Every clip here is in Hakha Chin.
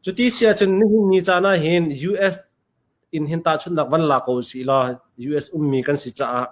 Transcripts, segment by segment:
Cuti si ahcun nihin ni caan ahhin US in hin tahchunhnak van la ko usih law US ummi kan si caah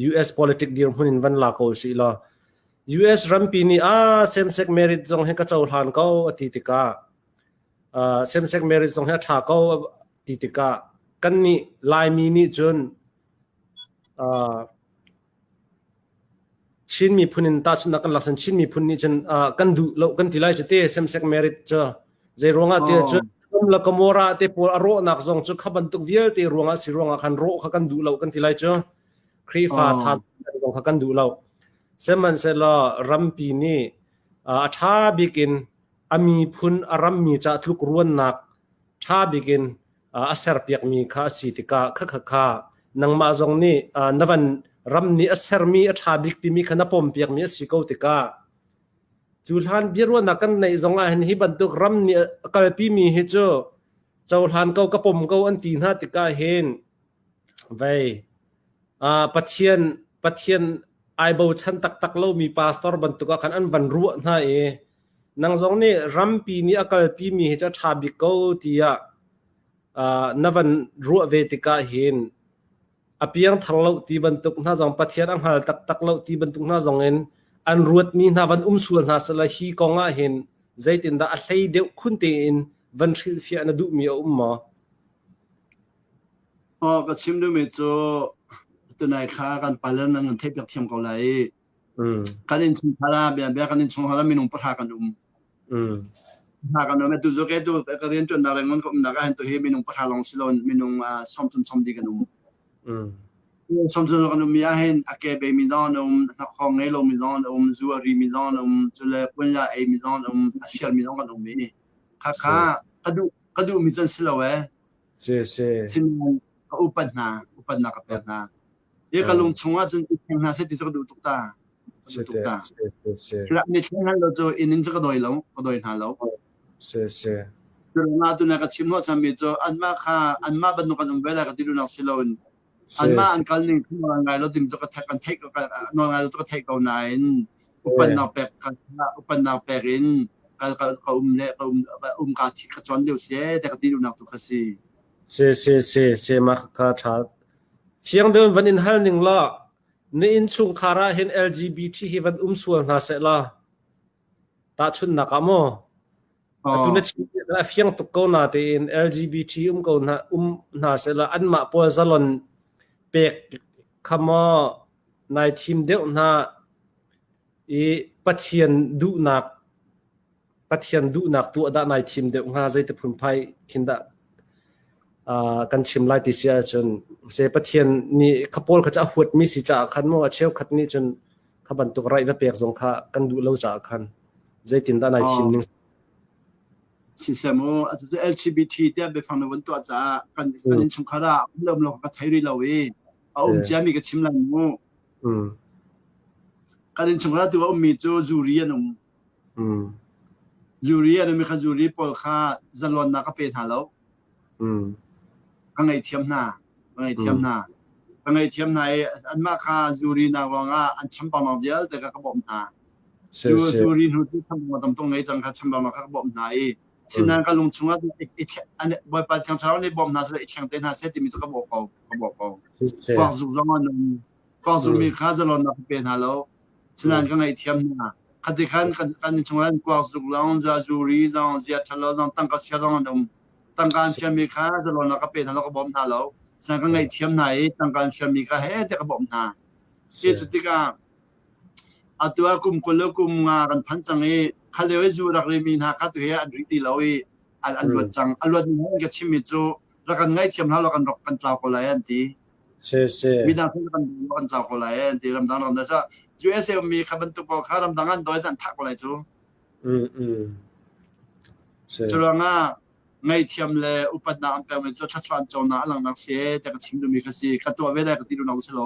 US politic dirhmun in van la ko usih law US rampi nih ah same-sex marriage zong hi ka cohlan ko a ti tikah uh, same-sex marriage zong hi a ṭha ko a ti tikah kannih Laimi nih cun uh, Chin miphun in tahchunhnak kan laksan. Chin miphun nih cun ah kan duh lo kan ti lai cu te same-sex marriage cu. Zei ruangah ti cun Sodom le Gomorrah te pawl a rawhnak zong cu kha bantuk vialte ruangah si ruangah khan rawh kha kan duh lo kan ti lai cu. Khrihfa tha zong kha kan duh lo. Sihmanhsehlaw rampi nih a tha bik in a miphun a rammi ca tlukruannak tha bik in a serpiakmi kha a si tikah kha nangmah zong nih na van ram nih a sermi a ṭha bik timi kha na pawmpiakmi a si ko tikah cu hlan biaruahnak kan neih zongah hin hi bantuk ram nih a kalpimi hi cu cohlan ko ka pom ko an ti hna tikah hin vei pathian pathian ai bochan taktak lomi pastor bantuk ah khan an van ruah hna i nang zong nih rampi nih a kalpimi hi cu a ṭha bik ko tiah uh, na van ruah ve tikah hin a piangthar lo ti bantuk hna zong Pathian a hngal taktak lo ti bantuk hna zong in an ruatmi hna van um sual hna sela hi kong ah hin zeitindah a hlei deuh khun tein van hrilhfiah na duhmi a um maw? Oh, ka chim duhmi cu tunai kha kan palan an theih piak thiam ko lai Mm. Kan innchungkhar ah bia bia kan innchungkhar ah minung pahra kan um. Mm. Pahra kan um tu zoke tu ka rian tuan nak le ngon ka um nak ah tu hi minung pahra long silon minung ah som som som di kan um. Mm. Som som kan um ya hen ake be mi zon um nak khong ngai lo mi zon um zu ari mi zon um chule kun la ei mi zon um asir mi zon kan um mi. Kha kha kadu kadu mi zon silo eh. sese. Sihmanhsehlaw ka upat hna, upatnak ka pek hna. Hi ka lung chungah cun i thleng hna seh ti cu ka duh tuk ta. Ka duh tuk ta. Thil an i thleng hal lo cu inn in cu ka dawi lo, ka dawi hna lo. Sese. Cu rangah tu na ka chim ho chami cu anmah kha anmah bantuk kan um ve lai ka ti duhnak si loin anmah an kal ning nawl ngai lo ding cu ka theih theih nawl ngai lo cu ka theih ko nain upannak pek upannak pek in kal kal ka um le ka um um ka thi ka chon deu se te ka ti dunak tu ka si se se se se ma ka tha fiang deuin van in hal ning la ni in chung khara hin LGBT hi van um sual hna se la Tahchunhnak ah maw, atu na chim hi a fiang tuk ko natein LGBT um ko hna, um hna sehla anmah pawl zalon pek kha maw nai thim deuh hna i Pathian duhnak Pathian duhnak tu ah dah nai thim deuh hnga zeiti phunphai khin dah uh, kan chim lai ti si ahcun se Pathian nih kha pawl kha cu a huatmi si caah khan maw a cheukhat nih cun kha bantuk raih va pek zong kha kan duh lo caah khan zeitindah nai thim ning sisem o atu LGBT te biafang na vun tuah caah kan kan in chungkhar ah lom lo ka thai rih lo i a um cia mi ka chim lan mu kan in chungkhar tu a um mi cu zuri an um Zuri a nungmi kha zuri pawl kha zalonnak a pe hna lo. Ka ngaihthiam hna, ka ngaihthiam hna. Ka ngaihthiam hna i anmah kha zurinak ruangah an champangmang vialte kha ka bawmh hna. Zuri hnu cu champangmang tam tung ngei cang kha champangmang kha ka bawmh hna i sinan ka lung chungah Bawipa Thiang Thlarau nih bawm hna seh i thleng te hna seh timi cu ka bawh ko. Ka bawh ko. Puak zuk zong an um. Kong zungmi kha zalon na ka pe hna lo. Sinan ka ngaihthiam hna. Khati khan kan kan chunglan kuak zuk lawng za zuri zong zia thalo zong tangka chia zong an um. Tangkaan siami kha zalon na ka pe hna lo ka bawm hna lo. Sinan ka ngaihthiam hna i tangkaan siami kha he te ka bawm hna. Si cu tikah atu a kum kul le kum nga kan phan cang i khaleo i zu rak rimi hna kha tu he an ri ti lo i an an luat cang. A luat ni he ka chimmi cu rak kan ngaihthiam hna lo kan rak kan tlau ko lai an ti. Midang thil kan lo an cang ko lai eh, ti ramdang ramdang sa USA mi kha bantuk ko kha ramdang an doi zan thak ko lai cu. Mm mm. Curuanga ngaithiam le upatnak an pem cu chachuan chona alang nak se te ka chim dumi kha si ka to ve dai ka ti lu nok si lo.